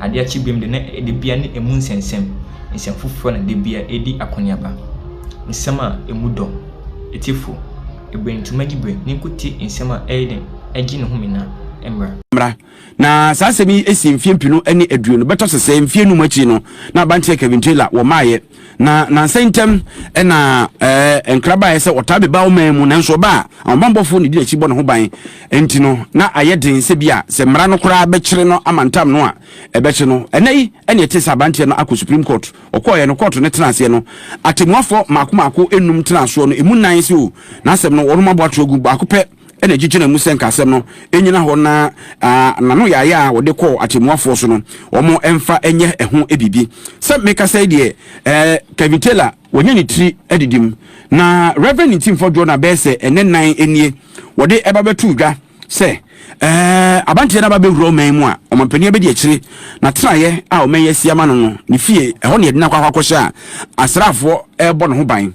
Adeɛ akye bem de, na dibea ne emu nsɛnsɛm nsɛm foforɔ na dibea redi akɔneaba. Nsɛm a emu dɔ, etifo, eberentuma dibre ne nkote nsɛm a ɛyɛ den gye ne home na mmra. Mmra. Na saa asɛm yi si mfeɛ mpenu ne aduonu, bɛtɔ sesɛɛ mfeɛ num akyi no na Abanteɛ Kevin Taylor wɔmaeɛ. na nansa ntam na ɛɛ nkraba ayɛ sɛ ɔtaa bɛba ɔman mu nanso ɔba a ahobanbɔfoɔ na ɛdi n'akyi bɔ ne ho ban nti no na ayɛ den sɛ bi a sɛ mmara no koraa bɛkyere no ama ntam no a ɛbɛkye no ɛnɛ yi ɛne ɛte sɛ abanteɛ no akɔ supreme court ɔkɔɔyɛ no kɔɔto no tena aseɛ no atemmuafoɔ maako maako enum tena asoɔ no emu nan sɛ o n'asɛm no wɔn abɔ ato agu baako pɛ na egyegyina mu sɛ nka asɛm no nnyina hɔ na n'ano yaayaa a wɔde kɔɔ atɛmmuafoɔ so no, wɔmfa nyɛ ɛho biribi. Sɛ mekasa yi deɛ, Kevin Taylor wanya ne tiri adidim, na Rev. Ntimfoɔ Jonah bɛyɛ sɛ ɛnnɛ nnan nie wɔde ɛba bɛtoo dwa sɛ Abanteɛ no aba bɛwura ɔman mu a Ɔmanpanin abɛdi akyire. N'atenaeɛ a ɔman yi asi ama no no, ne fie, ɛhɔ na yɛde no akɔ akɔhyɛ a asraafoɔ rebɔ ne ho ban.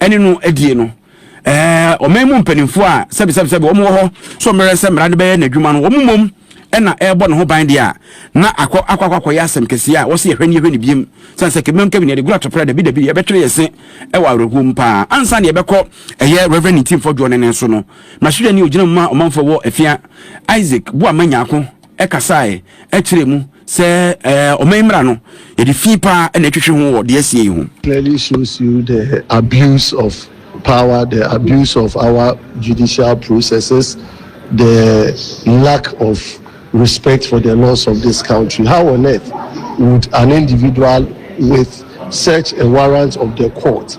ɛne no adie no ɛɛ ɔman mu mpanimfoɔ a sɛbisɛbisɛbi wɔn wɔ hɔ so mmerɛ sɛ mmara no bɛyɛ n'adwuma no wɔn mmom ɛna ɛrebɔ ne ho ban deɛ a na akɔ akɔ akɔ akɔyɛ asɛm kɛseɛ a wɔsi ɛhwɛ ne yɛhwɛ ne biem sɛn sɛ kɛmɛm kɛmɛm yɛde gura tɔpɛrɛ dabi dabi yɛbɛtwere yɛ se ɛwɔ awerɛhoɔ mu paa ansa na yɛbɛkɔ ɛyɛ reverend ntimfoɔ dwoɔ ne ne so no mahwehwɛ ne ogyina mu ma ɔmanfoɔ wɔ afia isaac boa ma nyaako kasae kyerɛɛ mu sɛ ɔman mmara no, yɛde fi paa na ɛtwetwe ho wɔ deɛ asie yi ho. clearly shows you the abuse of power, the abuse of our judicial processes, the lack of respect for the laws of this country. How on earth would an individual with such a warrant of the court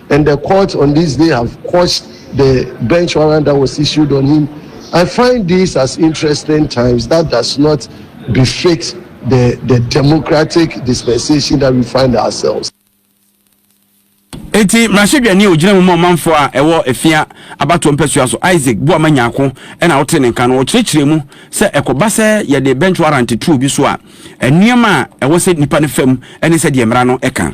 And the court on this day have quashed the bench warrant that was issued on him. I find this as interesting times that does not befit the, the democratic dispensation that we find ourselves. eti mmarahyɛdwani a ogyina mu ma ɔmanfoɔ a ɛwɔ efia abatoɔ mpɛsoa so isaac buama nyako ɛna ɔte ne nka no ɔkyerɛkyerɛ mu sɛ ɛkɔba sɛ yɛde bench warrant tu obi so a nneɛma a ɛwɔ sɛ nipa no fam ɛne sɛ deɛ mmara no ɛka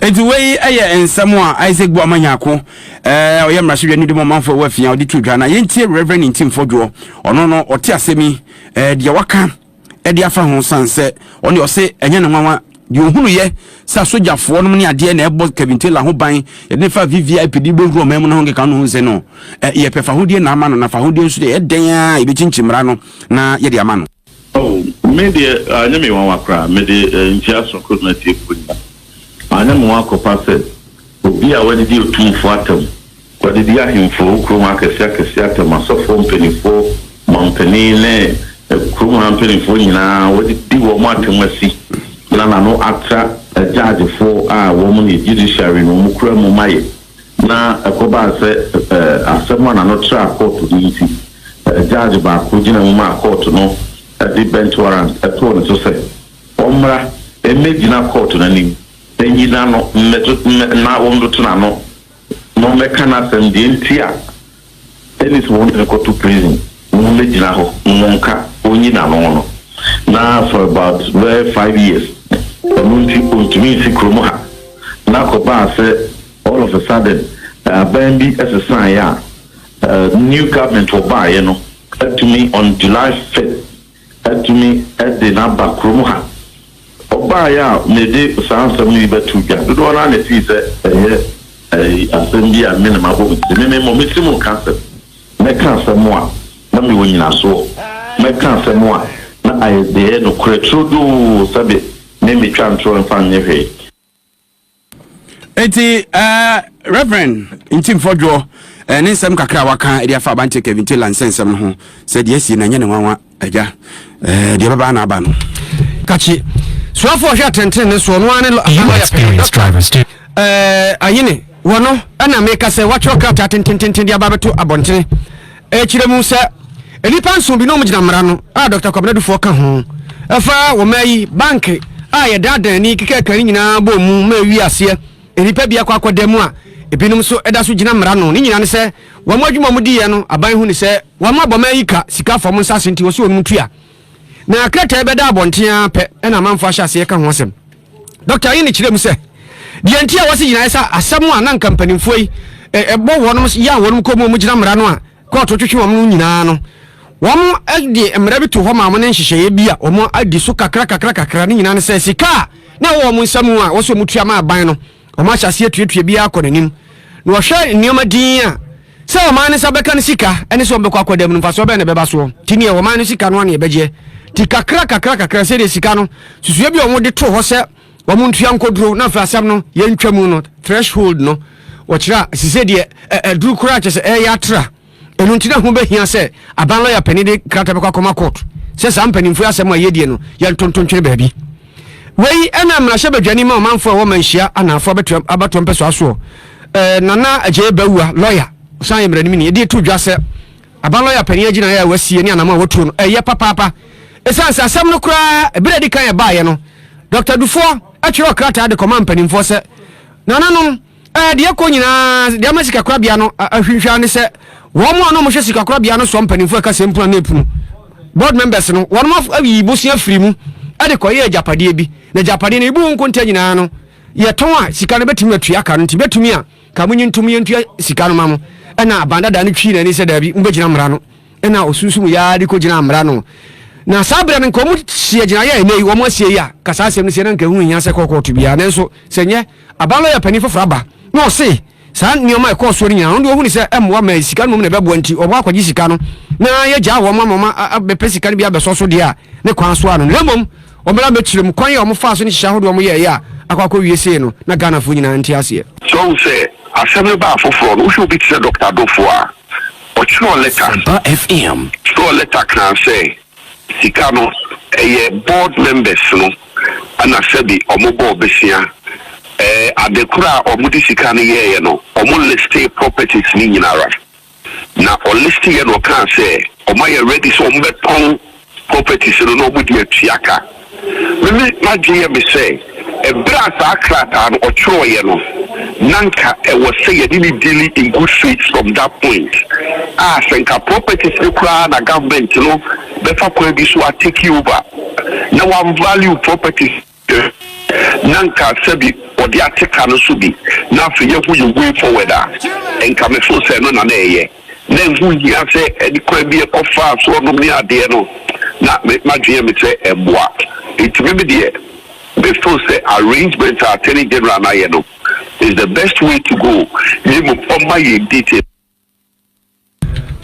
Enti wei yɛ nsɛm a Isaac Boamah Nyarko, eh, ɔyɛ mmarahyɛbea no di mu ɔmanfo ɛwɔ afia ɔde to dwa na yɛntie Rev. Ntim Fodwoɔ ɔno no ɔte asɛm yi eh, deɛ waka ɛde afa ho san sɛ ɔne ɔse ɛnyɛ ne nwanwa deɛ ɔhunuyɛ sɛ asogyafoɔ nom ne adeɛ na ɛbɔ Kevin Taylor ho ban yɛde ne fa VVIP de bɛwura ɔman mu no ho nkeka no ho nsɛ no eh, yɛpɛ fahodie na ama no na fahodie nso deɛ ɛdɛn a yɛbɛkyinkyi mmara no na yɛde ama no. Oh, me deɛ, anyɛ me nwanwa koraa. Mede nkyia sononko rema atiefoɔ nyinaa. Anyɛ me nwanwa kɔfa sɛ obi a w'adedi otumfoɔ atam, w'adedi ahemfoɔ, wo kurom akɛseɛ akɛseɛ atam, asɔfoɔ mpaninfoɔ, manpanin ne kurom ha mpaninfoɔ nyinaa, w'adedi wɔn atam asi na n'ano atra agyaagyefoɔ a wɔn ne judiciary no wɔn kura mu mayɛ. na ɛkɔbaa sɛ asɛm a na no traa kɔɔto no nti, judge baako gyina mu maa kɔɔto no de bench warrant too ne so sɛ ɔmmra mmɛgyina kɔɔto no anim nnyina no mmɛto na wɔmmoto n'ano na ɔmmɛka n'asɛm deɛ nti a Dennis wo ntene kɔto prison na ɔmmɛ gyina hɔ na mo nka ɔnyi n'ano no na for about bɛyɛ five years ɛno nti ɔntumi nsi kurom ha na kɔbaa sɛ all of a sudden aban bi sesaeɛ a new government ɔbaeɛ no atumi on July fifth atumi de no aba kurom ha. Ɔbaeɛ a mede saa nsɛm yi bɛto dwa dodoɔ no ara na ɛfiri sɛ ɛyɛ asɛm bi a me na mabɔ me tiri. Me me mmɔ me tirim nka asɛm. Mɛka asɛm a na mewɔ nyinasoɔ. Mɛka asɛm a na ayɛ dɛ, nokorɛ turodoo sɛbe me metwa ntorɔ mfa nyɛ hwee. nti ɛɛ eh, reverend nti mfɔdwoɔ ɛɛ eh, ne nsɛm kakra a waka ɛde afa abante kevin taylor nsɛnsɛm no ho sɛ deɛ asie na ɛnyɛ ne nwanwa agya ɛɛ eh, deɛ bɛbaa na aba no kakyi soafoɔ hwɛ atɛntene ne soɔ no ara ne lɔ ɛɛ ayene wɔno ɛna meka sɛ watwerɛ krataa tentententen de aba bɛto abɔntene Ɛkyerɛ mu sɛ nnipa nson bi na wɔgyina mmara no, a Dɔkta Kwabena Dufour ka ho, ɛfa wɔma yi, banke a yɛdaadaa ani kekɛɛkɛ no nyinaa bɔɔ mu ma ɛwii aseɛ, nnipa bi akɔ akɔda mu a ebinom nso da so gyina mmara no. Ne nyinaa ne sɛ wɔn adwuma a wɔdiiɛ no, aban hu no sɛ wɔama bɔma yi ka sika fam nsase nti wɔsɛ wɔnom tua. Na krataa yi bɛdaa abɔnten ara pɛ na amanfoɔ ahyɛ aseɛ ka ho asɛm. Dɔkta Ayine kyerɛɛ mu sɛ, deɛ nti a wɔasi gyinaeɛ sɛ asɛm a na anka mpanimfoɔ yi bɔ wɔnom yan wɔnom kɔn mu a wɔgyina mmara no a kɔɔto twetwe wɔn no nyinaa no, wɔde mmara bi too hɔ maa wɔn ne nhyehyɛeɛ bi a wɔadi so kakra kakra kakra, ne nyinaa ne sɛ sika a na ɛwɔ wɔn nsa mu a ɛwɔ sɛ wɔtua ma aban no, Wɔahyɛ aseɛ atuatua biara kɔ n'anim, na wɔhwɛ nneɛma dinn a sɛ ɔman no nsa bɛka no sika ne sɛ wɔbɛkɔ akɔda mu no mfasoɔ bɛn na ɛbɛba soɔ. Nti neɛ ɔman no sika no ara na yɛbɛgyeɛ. Nti kakra kakra kakra sɛdeɛ sika no susua bi a wɔde too hɔ sɛ wɔn ntua nkɔduro na afei asɛm no yɛntwa mu no threshold no wɔkyerɛ a sisɛ deɛ ɛduru koraa kyɛ sɛ ɛyɛ atra. Ɛno nti na ho bɛhia sɛ aban lɔya panin de krataa bɛkɔ akɔma court sɛ saa mpanimfoɔ asɛm a yɛdie no yɛntonto ntwene baabi. Wei ɛna mmarahyɛ badwani ma ɔmanfoɔ a ɛwɔ manhyia anaafoɔ abatoɔ mpɛsoa soɔ eh, Nana Agyee Bawua lɔya ɔsan yɛ mmaranimni ɛde to dwa sɛ aban lɔya panin agyinaeɛ a wasie ne anam a watuo no ɛyɛ eh, papaapa ɛsiane sɛ asɛm no koraa ɛberɛ adi kan ɛbaeɛ no Dr. Dufoɔ ɛtwerɛ krataa de kɔma mpanimfoɔ sɛ nananom Ɛɛ, deɛ ɛkɔ nyinaa, deɛ ama sikakorabea no ahwinhwa ne sɛ wɔn a na wɔhwɛ sikakorabea no soɔ mpanimfoɔ ɛka sɛ mpuna ne epunu board members no wɔn ayi bosea firi mu de kɔyɛ agyapadeɛ bi na agyapadeɛ no ebi wɔn nkonta nyinaa no yɛtɔn a sika no bɛtumi atua ka no nti bɛtumi a ka mo nyi ntom yɛntua sika no ma mo ɛna abandada no twi n'ani sɛ daabi mobɛgyina mmara no ɛna ɔsunsum yaa de kɔgyina mmara no na saa berɛ no nka ɔmo hyia gyinaeɛ a ɛnɛ yi wɔn asie yi a ka saa asɛm no sie na nka ɛho hia sɛ kɔkɔɔto biara nanso sɛ nyɛ Aban lɔya panin foforɔ aba na ɔse saa nneɛma a ɛkɔɔ soɔ no nyinaa no, ɔno deɛ ɔhu ne sɛ ɛmmoa ma sika no mmom na ɛbɛboa nti ɔbɔ akɔgye sika no na yɛagyaa wɔn ama wɔn abɛpɛ sika no bi abɛsɔ so deɛ a ne kwan so a no na mmom wɔmmra mmɛkyerɛ mu kwan a wɔfaa so ne nhyehyɛ ahodoɔ a wɔyɛeɛ a akɔ akɔwie sei no na Ghanafoɔ nyinaa nte aseɛ. So woahu sɛ asɛm no baa foforɔ no, wohwɛ obi te sɛ Dɔkta Adofo a, ɔtwerɛɛ lɛta, Sɛmpa FM. twerɛɛ lɛta kaa sɛ. Sika no ɛyɛ board members no na sɛbi ɔmo bɔɔ besia ɛɛ ade koro a ɔmo de sika no yɛɛyɛ no ɔmo listee properties no nyinara na ɔlist yɛ na ɔkaa sɛ ɔmo ayɛ ready sɛ ɔmo bɛtɔn properties no na ɔmo de atua ka. Mimi adwene yɛ me sɛ ɛberɛ a saa krataa no ɔtwerɛeɛ no nanka ɛwɔ sɛ yɛne no deali in good faith from that point a sɛ nka properties no koraa na government no bɛfa kwan bi so a take over na wa value properties no nanka sɛbi ɔde ate ka no so bi na afei yɛahu yɛ way forward a nka me feel sɛ ɛno na na ɛyɛ. na ɛho hia sɛ ɛde kwan bi kɔ faa so ɔnom ne adeɛ no, na me m'adwene yɛ me sɛ ɛmmoa. Nti me me deɛ me feel sɛ arrangement a Attorney General no ayɛ no is the best way to go, ne mmom ɔmma yɛn details.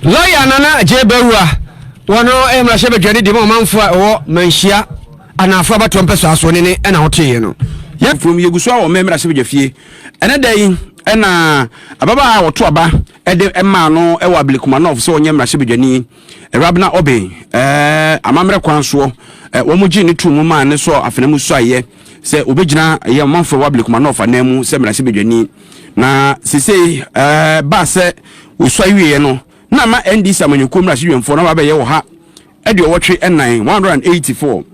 Lɔya Nana Agyei Bawuah, wɔno yɛ mmarahyɛbadwani de ma ɔmanfoɔ a ɛwɔ Manhyia Anaafoɔ abatoɔ mpɛsoa asoɔne ne ɛna woteeɛ no. Yɛ. From yɛgu so wɔ mmɛ mmarahyɛbadwafie ɛnɛ da yi ɛna ababaa a wɔto aba de maa no wɔ Ablekumanov sɛ ɔnyɛ mmarahyɛbadwani, Rabna Obin, amammerɛ kwan soɔ. Wɔgyee no too mu maa ne sɔɔ afena mu suaeɛ sɛ ɔbɛgyina ɛyɛ ɔmanfoɔ wɔ Ablekumanov anan mu sɛ mmarahyɛbadwani. Na sesei baa sɛ wɔsuae wieɛ no, na ama NDC amanyɔkuo mmarahyɛdwamfoɔ no aba abɛyɛ wɔ ha. aduɔwɔtwe ɛnan, one hundred and eighty four,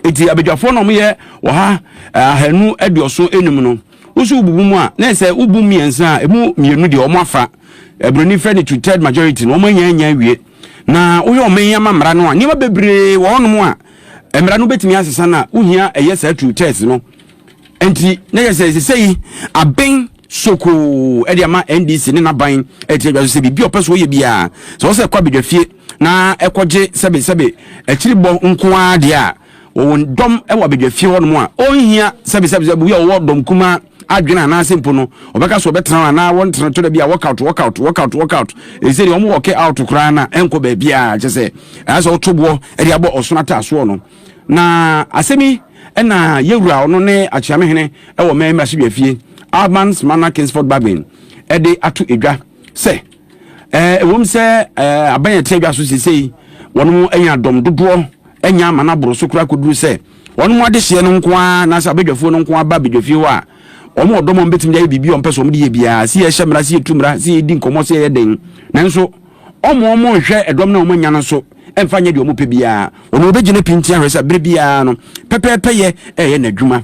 Enti abadwafoɔ no a wɔyɛ ɔha eh, ahanu aduɔson enum no, wo nso wobubu mu a, na ɛyɛ sɛ wobu mmiɛnsa a emu mmienu deɛ wɔn afa, Aburoni frɛ no two-third majority, na wɔn anya anya awie. Na wohwɛ ɔman yi ama mmara no a, nneɛma bebree wɔ hɔnom a mmara no bɛtumi asesa no a, wohia ɛyɛ saa two-thirds no. Enti na yɛ sɛ sɛ yi aben sokoo ɛde ama NDC ne n'aban ɛte adwa so sɛ biribi a ɔpɛ so ɔyɛ biara sɛ ɔsɛ kɔ abadwafie na ɛkɔgye sɛbesɛbe akyiribɔ nko ara deɛ a, wɔwɔ dɔm wɔ abadwafie hɔnom a ɔnhia sɛbesɛbe sɛ obi a ɔwɔ dɔm kumaa adwene anaasɛ mpo no ɔbɛka so ɔbɛtena hɔ anaa wɔntena tɔ da bi a work out work out work out work out ɛsɛ deɛ wɔn wɔke out koraa na ɛnkɔ baabi a kyɛ sɛ ɛyɛ sɛ woto boɔ de abɔ ɔsono ataasoɔ no na asɛm yi ɛna yɛwura ɔno ne akyeame hene ɛwɔ mɛn mmarahyɛbea fie Alban's Manor Kingsford Babin ɛde ato edwa sɛ Ɛwom sɛ aban a ɛte adwa so seesei wɔnom anya dɔm dodoɔ anya ama no aboro so koraa kɔduru sɛ wɔnom adehyeɛ no nko ara anaasɛ abadwafoɔ no nko ara ba abadwafie hɔ a wɔn ɔdɔm a wɔbɛtumi de ayɛ biribi a wɔpɛ so wɔn de yɛ biara sɛ yɛhyɛ mmara sɛ yɛtu mmara sɛ yɛdi nkɔmmɔ sɛ yɛyɛ den nanso wɔn wɔn nhwɛ ɛdɔm no a wɔanya no so ɛmfa nyɛ deɛ wɔpɛ biara wɔn wɔbɛgyina pinti ahwɛ sɛ berɛ biara no pɛpɛɛpɛyɛ ɛyɛ n'adwuma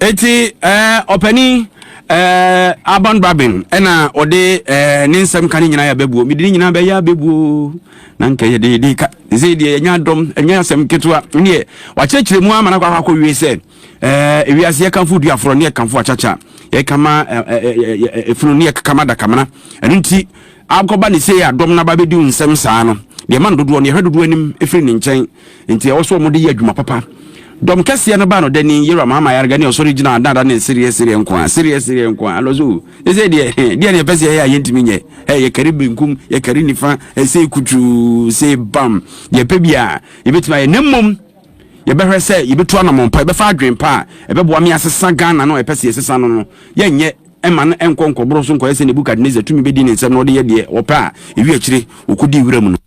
Eti ɛɛ ɔpanin ɛɛ Aban Babin ɛna ɔde ɛɛ ne nsɛm ka ne nyinaa yɛ abɛbuo mede ne nyinaa bɛyɛ abɛbuo na nka yɛde yɛde ka ɛsɛ deɛ yɛnya dɔm ɛnyɛ asɛm ketewa neɛ wakyerɛkyerɛ mu ama no akɔ akɔ wie sɛ ɛɛ ewiase yɛkamfo du aforɔ ne yɛkamfo akyakya yɛkama ɛɛ efunu ne yɛkama dakamena ɛno nti akɔba ne sei a dɔm no aba bɛdi nsɛm saa no deɛ ma no dodoɔ no yɛhwɛ dodoɔ anim ɛfiri ne nkyɛn Enti ɛwɔ sɛ wɔde yɛ adwuma papa. Dɔm kɛseɛ no baa no dani, Yeram ama ayarega ne ɔsɔre gyina adaada ne sereɛ sereɛ nko a, sereɛ sereɛ nko a. Alɔso, ɛsɛ deɛ, deɛ ne ɛpɛ sɛ yɛyɛ a yɛntumi nyɛ. Ɛ, yɛkari benkum, yɛkari nifa, ɛsɛ kutuu, se bam. Deɛ ɛpɛ bi a, yɛbɛtumi ayɛ. Na mmom, yɛbɛhwɛ sɛ yɛbɛtu anamɔn pa, yɛbɛfa adwen pa a, ɛbɛboa me asesa Ghana no a ɛpɛ sɛ yɛsesa no no. Yɛnyɛ ɛma no ɛnkɔ nkɔboro so nkɔyɛ sɛ Nebukadnesar tumi bɛdi ne nsɛm na ɔde yɛ deɛ ɔpɛ a, ɛwi akyire, ɔkɔdi wura mu no.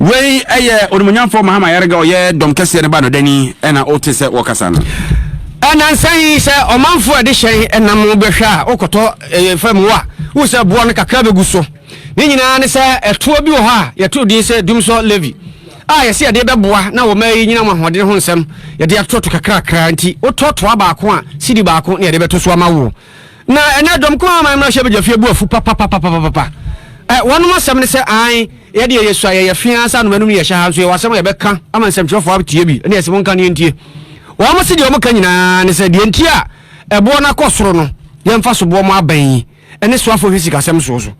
Wei yɛ onimuonyamfoɔ Mahama Yarega ɔyɛ dɔm kɛseɛ no ba no dani ɛna wote sɛ wɔkasa no. Ɛnansa yi sɛ ɔmanfoɔ ɛde hyɛn ɛnam bɛhwɛ a wokɔtɔ fam hɔ a wohu sɛ boɔ no kakra bɛgu so ne nyinaa ne sɛ ɛtoɔ bi wɔ hɔ a yɛtoo din sɛ Dumsor Levy a yɛse yɛde bɛboa na wɔma ayi nyinam ahoɔden ho nsɛm yɛde atoto kakrakra nti wotɔ toa baako a sidi baako na yɛde bɛto so ama woɔ Na ɛnɛ dɔm ko aman mmra hyɛbagya fie bu afu papapapapapa ɛ wɔnom asɛm ne sɛ ae yɛ deɛ yɛsua yɛyɛ fee ansa nom anum ne yɛhyɛ ha nso yɛwɔ asɛm a yɛbɛka ama nsɛmtwerɛfoɔ atie bi ne yɛsɛ mo nka ne yɛntie wɔn se deɛ wɔn ka nyinaa ne sɛ deɛ nti a ɛboɔ no akɔ soro no yɛmfa so boɔ mo abɛn yi ɛne soafoɔ hwɛ sikasɛm soɔ so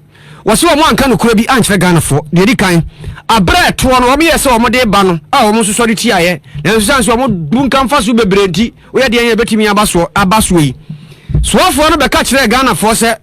Wɔse wɔn anka nokorɛ bi ankyerɛ Ghanafoɔ. Deɛ ɛdi kan, aberɛ a ɛtoɔ no wɔyɛɛ sɛ wɔde reba no a wɔn nso sɔre tiaeɛ, nanso ɛsiane sɛ wɔn bunkam mfasoɔ bebree nti woyɛ deɛn a ɛbɛtumi aba soɔ aba soɔ yi. Soafoɔ no bɛka kyerɛɛ Ghanafoɔ sɛ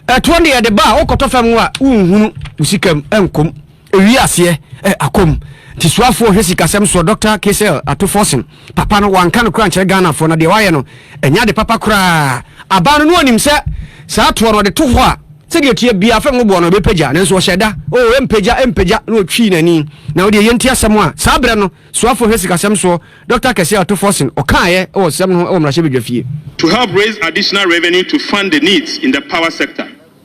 ɛtoɔ no deɛ ɛde ba a wokɔtɔ fam a wonhunu wo sika mu nkɔm. Ewie aseɛ ɛ akɔm. Nti suafoɔ hwɛ sikasɛm soɔ Doctor Caesel Ato Forson papa no wanka no koraa nkyerɛ Ghanafoɔ na deɛ wayɛ no ɛnyɛ ade papa koraa abaa no no ɔnim sɛ saa toɔ no ɔde to hɔ a sɛdeɛ ɛteɛ biara fam no boɔ no ɛbɛpagya nanso ɔhyɛ da oo ɛmpagya ɛmpagya na ɔtwii n'ani na wodeɛ yɛnti asɛm a saa berɛ no suafoɔ hwɛ sikasɛm soɔ Doctor Caesel Ato Forson ɔkaaeɛ wɔ nsɛm no ho wɔ mmarahyɛbadwafie. To help raise additional revenue to fund the needs in the power sector.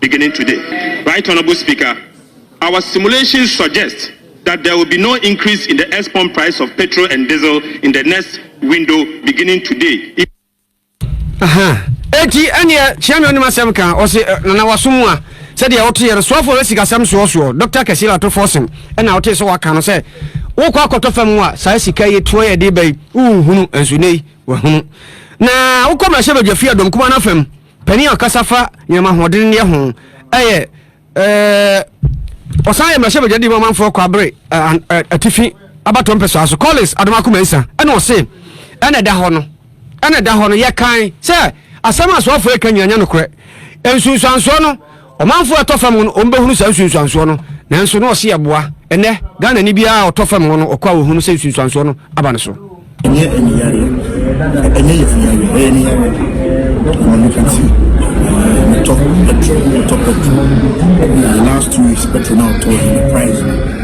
beginning today. Right Honourable Speaker, our simulations suggest that there will be no increase in the ex-pump price of petrol and diesel in the next window beginning today. eti ɛneɛ kyia me ɔnim asɛm ka ɔse nana wasom a sɛdeɛ wote yɛ no soafoɔ bɛ sikasɛm soɔsoɔ dɔkta kɛse la tofoɔ sem ɛna wote sɛ waka no sɛ wokɔ akɔtɔ fam a saa sika yi toɔ yɛ de bɛyi wohunu nso nei wahunu na wokɔ mmarahyɛ badwafie adɔm kuma no afam Panin a ɔkasa fa nneɛma ahoɔdenneyɛ ho yɛ ɔsan yɛ mmarahyɛbadwadi mu amanfoɔ Kwabre Atifi abatoɔ mpɛsoa so Collins Adomako Mensah ɛna ɔse ɛna ɛda hɔ no ɛna ɛda hɔ no yɛkan sɛ asɛm a asoafoɔ ɛka nyina nyɛ nokorɛ nsunsuansoɔ no Ɔmanfoɔ a ɛtɔ fam hɔ no, wɔbɛhunu saa nsunsuansoɔ no, nanso na ɔse ɛboa. Ɛnnɛ, Ghanani biara a ɔtɔ fam hɔ no, ɔkɔ a ɔhunu sɛ nsunsuansoɔ no aba ne so. Ɛnyɛ aniyareɛ, ɛnyɛ yafuyareɛ, ɛyɛ aniyareɛ. Ɛma nnipa ti, metɔ petrol, metɔ petrol. Last two weeks, petrol na ɔtɔ, the price.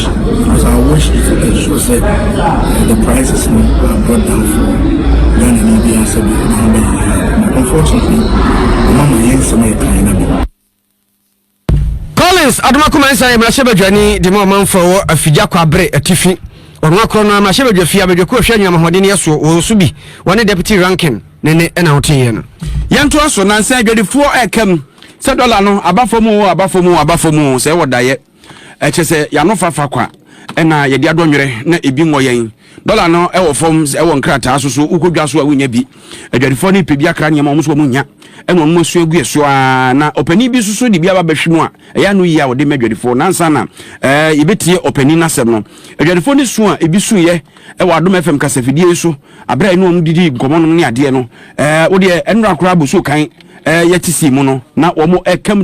Because I watch it and show say the prices no are brought down for Ghana ni bi asɛ bi na ɔbɛ yɛ ha. Unfortunately, ɔma ma yɛn nsɛm yɛ kan na bi. Collins Adomako Mansa yɛ mmarahyɛbadwani de ma ɔmanfoɔ wɔ Afigya Kwabre Atifi. Ɔno akorɔ no mmarahyɛbadwa fie abadwakuo ɛhwɛ nnuamahoɔden yɛ soɔ wɔn so bi wɔne deputy ranking ne ne ɛna woteeɛ no. Yɛntoa so nansa adwadifoɔ ɛkam sɛ dɔla no aba fam o aba fam o aba fam o sɛ wɔ daeɛ. Ɛkyɛ sɛ yanofa fa kwa ɛna yɛde adɔ nwerɛ na ebi nwɔ yɛn. Dɔla no ɛwɔ fam ɛwɔ nkrataa so so wokɔ dwa so a wonya bi. Adwadifoɔ no pɛ bi akra nneɛma wɔn so wɔn nya ɛna wɔn asua gu ɛso aa na ɔpanin bi nso so de bi aba bɛhwe mu a ɛyɛ ano yie a wɔde ma adwadifoɔ nansa na ɛɛ yɛbɛtie ɔpanin n'asɛm no. Adwadifoɔ no su a ebi su yɛ ɛwɔ Adom FM kasafidie yi so abere a ɛne wɔn didi nkɔmɔ nom ne adeɛ no ɛɛ wodeɛ ɛnora koraa bɔ so kan ɛɛ yɛte sii mu no na wɔn ɛkam